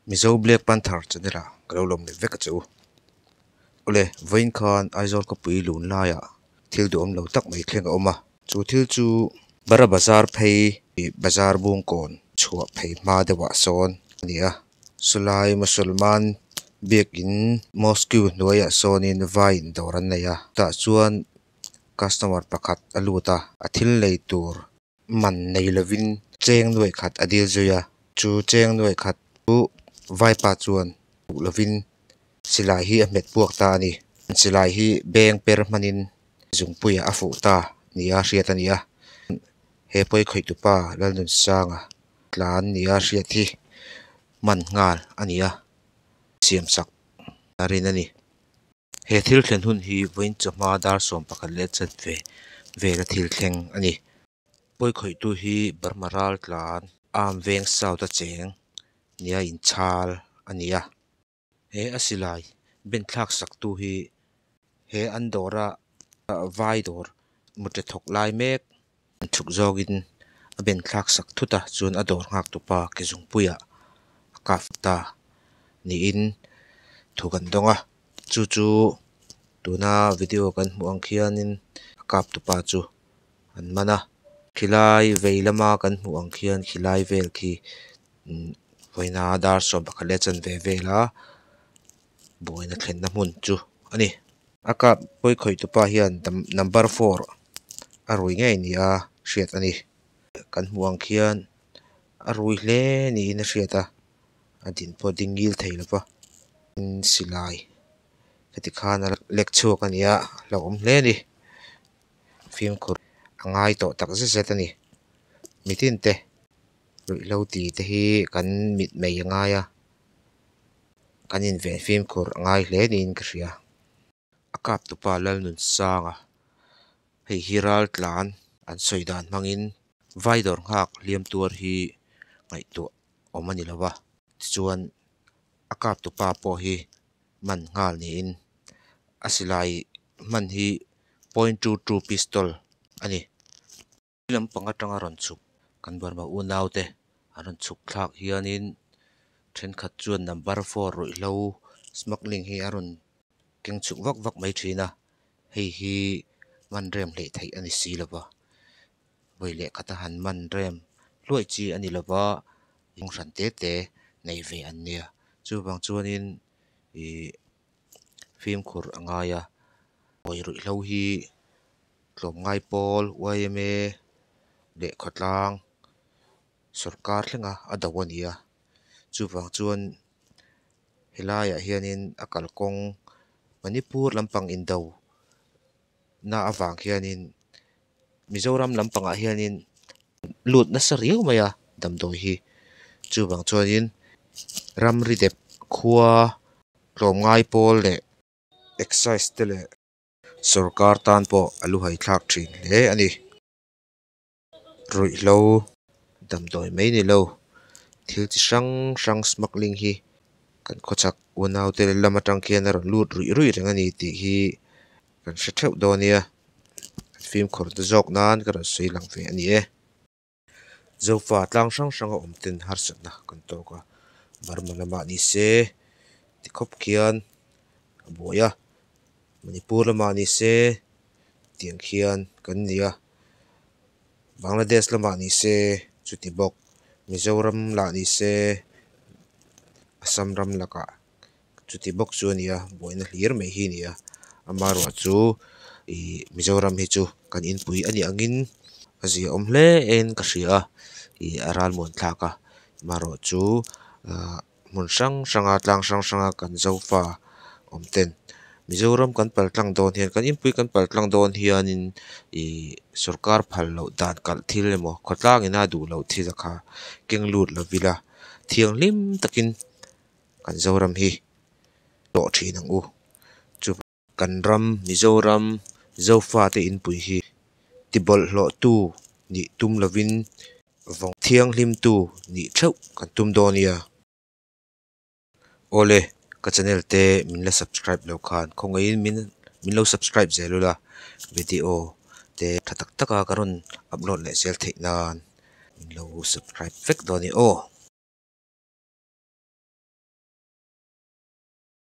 Mizo Black Panther channel-a ka lo lawm leh vek a che u. Awle, vawiin khan Aizawl khawpui lun laiah thil duhawm lo tak mai thleng a awm a. Chu thil chu Bara bazar phei ih bazar bung kawn chhuah phei hma deuhah sawn a ni a. Chulai Musalman biakin Mosque hnuaiah sawnin vaiin dawr an nei a. Chutah chuan customer pakhat a lut a, a thil nei tur man nei lovin cheng nuaih khat a dil zui a, chu cheng nuaih khat chu vaipa chuan duh lovin silai hi a hmet buak ta a ni. Silai hi beng per hmanin zungpuiah a fuh ta nia hriat a ni a, he pawikhawihtupa Lalnunsanga tlan nia hriat hi man nghal a ni a, siamsak a rin a ni. He thil thlen hun hi vawiin chawhma dar sawm pakhat leh chhet ve vela thil thleng a ni. Pawi khawihtu hi Burma ral tlan Ahm Veng Saut-a cheng nia inchhal a ni a. He a silai ben thlak saktu hi he an dawra vai dawr mutthe thawk lai mek a chhuk zawngin a ben thlak sak thut a, chuan a dawr nghak tupa ke zungpuiah a kap fut ta niin thu kan dawng a, chu chu tuna video kan hmuh ang khianin a kap tupa chu an man a, khilai vei lama kan hmuh ang khian khilai vel khi umm vawiina dar sawm pakhat leh a chanve vel a. Buaina thlenna hmun chu a ni. A kap pawi khawih tupa hian number four a rui ngei ni a hriat a ni. Kan hmuh ang khian a rui hle niin a hriat a, a din pawh a ding ngil thei lo va. Tin silai ka ti khan a lek chhuak a ni a, a hlauhawm hle a ni. Fimkhur a ngai tawh tak zet zet a ni. Mitinte ruihhlo tite hi kan mitmei a ngai a, Kan inven fimkhur a ngai hle niin ka hria. A kap tu pa Lalnunsanga hei hi ral tlan an sawi dan hmangin vai dawr nghak hliam tuar hi ngaihtuah awm a ni lo va, tichuan a kap tu pa pawh hi man nghal niin a silai hman hi point two two pistol a ni. Ni lam pang atanga rawn chhuk kan Burma unaute an rawn chhuk thlak hianin thenkhat chuan number four ruihhlo smuggling hi a rawn keng chhuk vak vak mai thin a, hei hi man rem hleh theih a ni si lo va, vawi leh khata han man rem hluai chi a ni lo va, hnunghrante te nei ve an nia chuvang chuanin ih. fimkhur a ngai a hawi ruihhlo hi tlawm ngai pawl yma leh khawtlang sawrkar thlenga a do a ni a chuvang chuan helaiah hianin a kalkawng manipur lampang indo na avang hianin-- Mizoram lampangah hianin lut nasa riau mai a damdawi hi chuvang chuanin ramri dep khua tlawm ngai pawl leh excise te leh sawrkar tan pawh a lu hai thlak thin hle a ni ruihhlo damdawi mai ni lo thil chi hrang hrang smuggling hi kan khawchhak unau te leh lam atang khian a rawn lut ruih ruih reng a ni tih hi-- kan hre theuh dawn nia kan fimkhur te zawk nan ka rawn sawi lang ve a ni e Zofa tlang hrang hranga awm ten harsatna kan tawk a Burma lama ni se ti khawp khian a buai a Manipur lama ni se tiang khian kan ni a Bangladesh lama ni se chuti bawk Mizoram lah ni se Assam ram lakah. chuti bawk chu a nia buaina hlir mai hi a nia ama erawh chu ihh mizoram hi chu kan inpui a nih angin a zia awm hle aiin ka hria a ih a ralmuan thlak a ama erawh chu ahh hmun hrang hranga tlang hrang hranga kan zofa awm ten mizoram kan pal tlang dawn hian kan inpui kan pal tlang dawn hianin ihh sawrkar phal loh dan kalh thil emaw khawtlangin a duhloh thil kha keng lut lovin a thianghlim takin-- kan Zoram hi tawh thin ang u, chu kan ram Mizoram Zofa te inpui hi tibawlh hlawhtu nih tum lovin vawng thianghlimtu nih theuh kan tum dawn nia. Awle ka channel te min la subscribe lo khan khawngaihin min min lo subscribe zel ula video te tha tak taka ka rawn upload leh zel theih nan. Min lo subscribe vek dawn a ni aw.